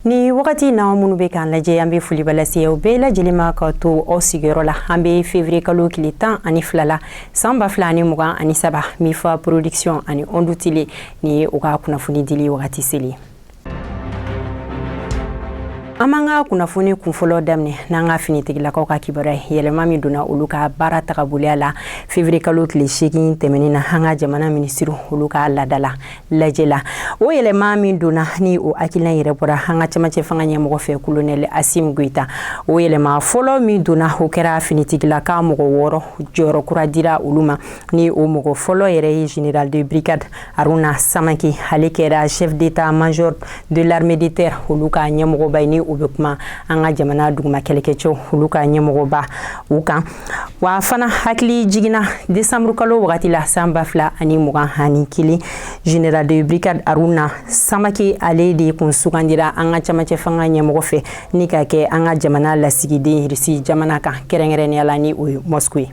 ni wagati na minnu bɛ k'an lajɛ an bɛ foliba lase aw bɛɛ lajɛlen ma ka to aw sigiyɔrɔ la an bɛ fevrier kalo tile tan ani fila la san ba fila ani mugan ani saba mifa production ani ondu tele ni ye u ka kunnafoni dili wagati selen an b'an ka kunnafoni kunfɔlɔ daminɛ n'an ka finitigilakaw ka kibaruya ye yɛlɛma min donna olu ka baara tagaboloya la fevriye kalo tile seegin tɛmɛnin na an ka jamana minisiriw olu ka ladala lajɛ la o yɛlɛma min donna ni o hakilina yɛrɛ bɔra an ka cɛmancɛ fanga ɲɛmɔgɔ fɛ kolonɛli asimi goyita o yɛlɛma fɔlɔ min donna o kɛra finitigilaka mɔgɔ wɔɔrɔ jɔyɔrɔ kura dira olu ma ni o mɔgɔ fɔlɔ yɛrɛ ye general de brigade Aruna Samake ale kɛra chef d'état major de l'armée de terre olu ka ɲɛmɔgɔba ni o bɛ kuma an ka jamana duguma kɛlɛkɛcɛw olu ka ɲɛmɔgɔba u kan wa fana hakilijigin na décembre kalo wagati la san ba fila ani mugan ani kelen général de brigade Aruna Samake ale de kun sugandira an ka cɛmancɛ fanga ɲɛmɔgɔ fɛ ni k'a kɛ an ka jamana lasigiden Russie jamana kan kɛrɛnkɛrɛnnenya la ni o ye Moscou ye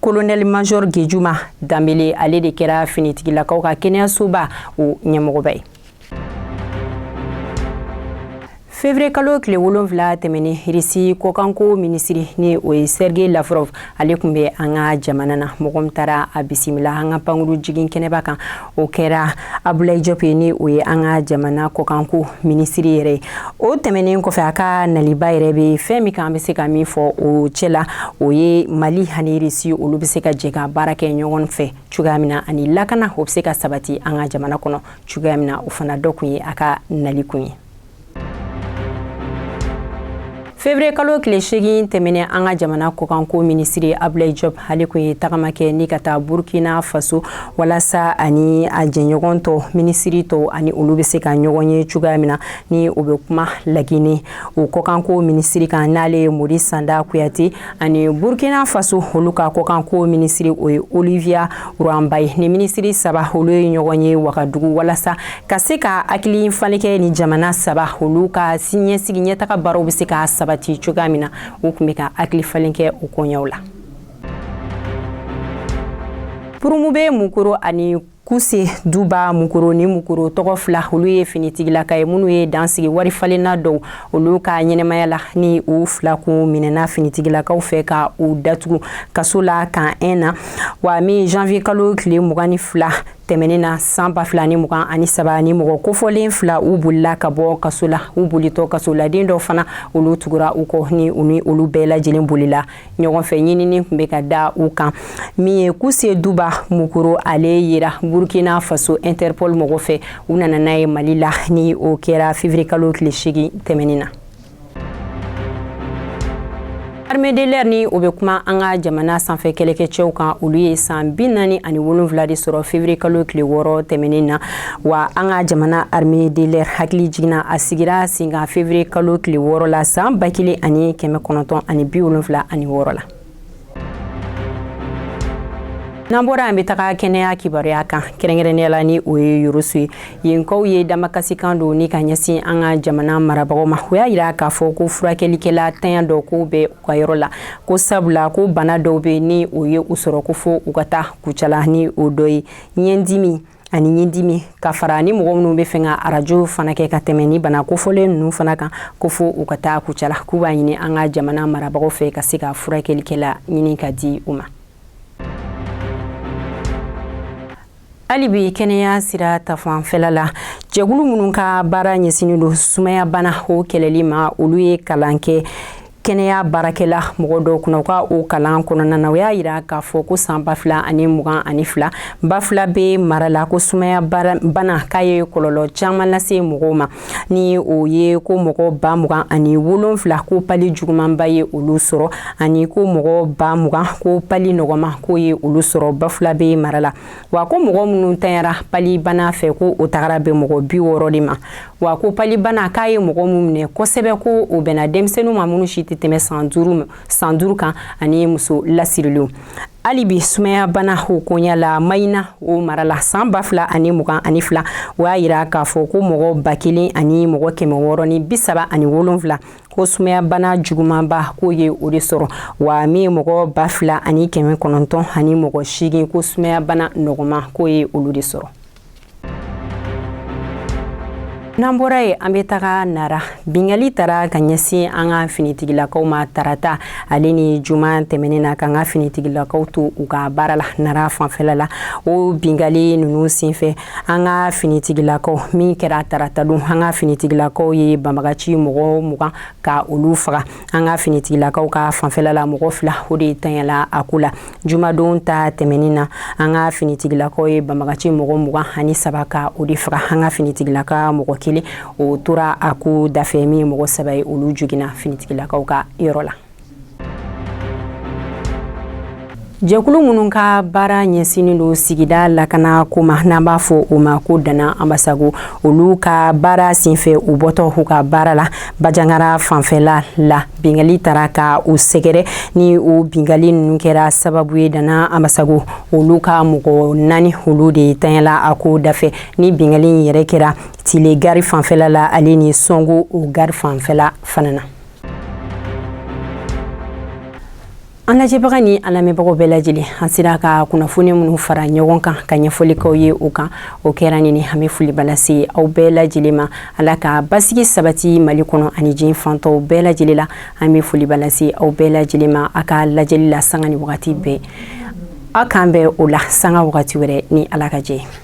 kolonɛli major gejuma danbele ale de kɛra finitigilakaw ka kɛnɛyasoba o ɲɛmɔgɔba ye fevriye kalo tile wolonfila tɛmɛnen risi kɔkanko minisiri ni o ye sergei lavrov ale kun bɛ an ka jamana na mɔgɔ min taara a bisimila an ka pankuru jigin kɛnɛba kan o kɛra abulayi jɔp ye ni o ye an ka jamana kɔkanko minisiri yɛrɛ ye o tɛmɛnen kɔfɛ a ka naliba yɛrɛ bɛ fɛn min kan an bɛ se ka min fɔ o cɛ la o ye mali ani irisi olu bɛ se ka jɛ ka baara kɛ ɲɔgɔn fɛ cogoya min na ani lakana o bɛ se ka sabati an ka jamana kɔnɔ cogoya min na o fana dɔ kun ye a ka nali kun ye fevriye kalo tile seegin tɛmɛnen an ka jamana kɔkanko minisiri abulayi jɔp ale kun ye tagama kɛ ni ka taa burkina faso walasa ani a jɛɲɔgɔn tɔ minisiri tɔw ani olu bɛ se ka ɲɔgɔn ye cogoya min na ni o bɛ kuma lagine o kɔkanko minisiri kan n'ale ye morisanda kuyate ani burkina faso olu ka kɔkanko minisiri o ye olivia ruanba ye ni minisiri saba olu ye ɲɔgɔn ye wagadugu walasa ka se ka hakili falen kɛ ni jamana saba olu ka siniɲɛsigi ɲɛtaga baaraw bɛ se ka sabati cogoya min na u kun bɛ ka hakili falen kɛ o koɲɛw la purumube mukoro ani kuse duba mukoro ni mukoro tɔgɔ fila olu ye finitigilakaw ye minnu ye dan sigi wari falenna dɔw olu ka ɲɛnamaya la ni u fila kun minɛna finitigilakaw fɛ ka u datugu kaso la camp un na wa min janvier kalo tile mugan ni fila tɛmɛnen na san ba fila ni mugan ani saba ni mɔgɔ kofɔlen fila u bolila ka bɔ kaso la u bolitɔ kasoladen dɔw fana olu tugura u kɔ ni u ni olu bɛɛ lajɛlen bolila ɲɔgɔnfɛ ɲinini kun bɛ ka da u kan min ye kuse duba mukoro ale yera burkina faso interpol mɔgɔ fɛ u nana n'a ye mali la ni o kɛra février kalo tile seegin tɛmɛnin na armée de l'air ni o bɛ kuma an ka jamana sanfɛ kɛlɛkɛcɛw kan olu ye san bi naani ani wolonwula de sɔrɔ février kalo tile wɔɔrɔ tɛmɛnin na wa an ka jamana armée de l'air hakilijigin na a sigira senkan février kalo tile wɔɔrɔ la san ba kelen ani kɛmɛ kɔnɔntɔn ani bi wolonwula ani wɔɔrɔ la n'an bɔra an bɛ taga kɛnɛya kibaruya kan kɛrɛnkɛrɛnnenya la ni o ye yorosu ye yenkaw ye damakasikan don ni ka ɲɛsin an ka jamana marabagaw ma u y'a yira k'a fɔ ko furakɛlikɛla tanya dɔ ko bɛ u ka yɔrɔ la ko sabula ko bana dɔw bɛ ni o ye u sɔrɔ ko fo u ka taa kucala ni o dɔ ye ɲɛdimi ani ɲindimi ka fara ni mɔgɔ minnu bɛ fɛ ka arajo fana kɛ ka tɛmɛ ni bana kofɔlen ninnu fana kan ko fo u ka taa kucala k'u b'a ɲini an ka jamana marabagaw fɛ ka se ka furakɛlikɛla ɲini ka di u ma hali bi kɛnɛya sira ta fanfɛla la jɛkulu minnu ka baara ɲɛsinnen don sumayabana o kɛlɛli ma olu ye kalan kɛ kɛnɛya baarakɛla mɔgɔ dɔw kunna u ka o kalan kɔnɔna na u y'a yira k'a fɔ ko san ba fila ani mugan ani fila bafilabɛ mara la ko sumaya bana k'a ye kɔlɔlɔ caman lase mɔgɔw ma ni o ye ko mɔgɔ ba mugan ani wolonfila ko pali jugumanba ye olu sɔrɔ ani ko mɔgɔ ba mugan ko pali nɔgɔman k'o ye olu sɔrɔ bafilabɛ mara la wa ko mɔgɔ minnu tanyara pali bana fɛ ko o tagara bɛn mɔgɔ bi wɔɔrɔ de ma wa ko palibana k'a ye mɔgɔ min minɛ kosɛbɛ ko o bɛnna denmisɛnninw ma minnu si tɛ tɛmɛ san duuru san duuru kan ani muso lasirilenw hali bi sumayabana hokonya la mayina o mara la san ba fila ani mugan ani fila o y'a yira k'a fɔ ko mɔgɔ ba kelen ani mɔgɔ kɛmɛ wɔɔrɔ ni bi saba ani wolonfila ko sumayabana jugumanba k'o ye o de sɔrɔ wa min ye mɔgɔ ba fila ani kɛmɛ kɔnɔntɔn ani mɔgɔ seegin ko sumayabana nɔgɔman k'o ye olu de sɔrɔ n'an bɔra yen an bɛ taga nara binkali tara ka ɲɛsin an ka finitigilakaw ma tarata ale ni juma tɛmɛnen na k'an ka finitigilakaw to u ka baara la nara fanfɛla la o binkali ninnu senfɛ an ka finitigilakaw min kɛra tarata don an ka finitigilakaw ye banbagaci mɔgɔ mugan ka olu faga an ka finitigilakaw ka fanfɛla la mɔgɔ fila o de tanyala a ko la jumadon ta tɛmɛnin na an ka finitigilakaw ye banbagaci mɔgɔ mugan ani saba ka o de faga an ka finitigilaka mɔgɔ kelen o tora a ko dafɛ min ye mɔgɔ saba ye olu joginna finitigilakaw ka yɔrɔ la jɛkulu minnu ka baara ɲɛsinnen don sigida lakana ko ma n'an b'a fɔ o ma ko dana anbasago olu ka baara senfɛ u bɔtɔ u ka baara la bajangara fanfɛla la binkali taara ka u sɛgɛrɛ ni u binkali ninnu kɛra sababu ye dana anbasago olu ka mɔgɔ naani olu de ntanyala a ko dafɛ ni binkali in yɛrɛ kɛra tile gari fanfɛla la ale ni sɔnko o gari fanfɛla fana na an lajɛbaga ni an lamɛnbagaw bɛɛ lajɛlen an sera ka kunnafoni minnu fara ɲɔgɔn kan ka ɲɛfɔli k'aw ye u kan o kɛra nin ye an bɛ foliba lase aw bɛɛ lajɛlen ma ala ka basigi sabati mali kɔnɔ ani diɲɛ fan tɔw bɛɛ lajɛlen la an bɛ foliba lase aw bɛɛ lajɛlen ma a ka lajɛli la sanga ni wagati bɛɛ aw k'an bɛn o la sanga wagati wɛrɛ ni ala ka jɛ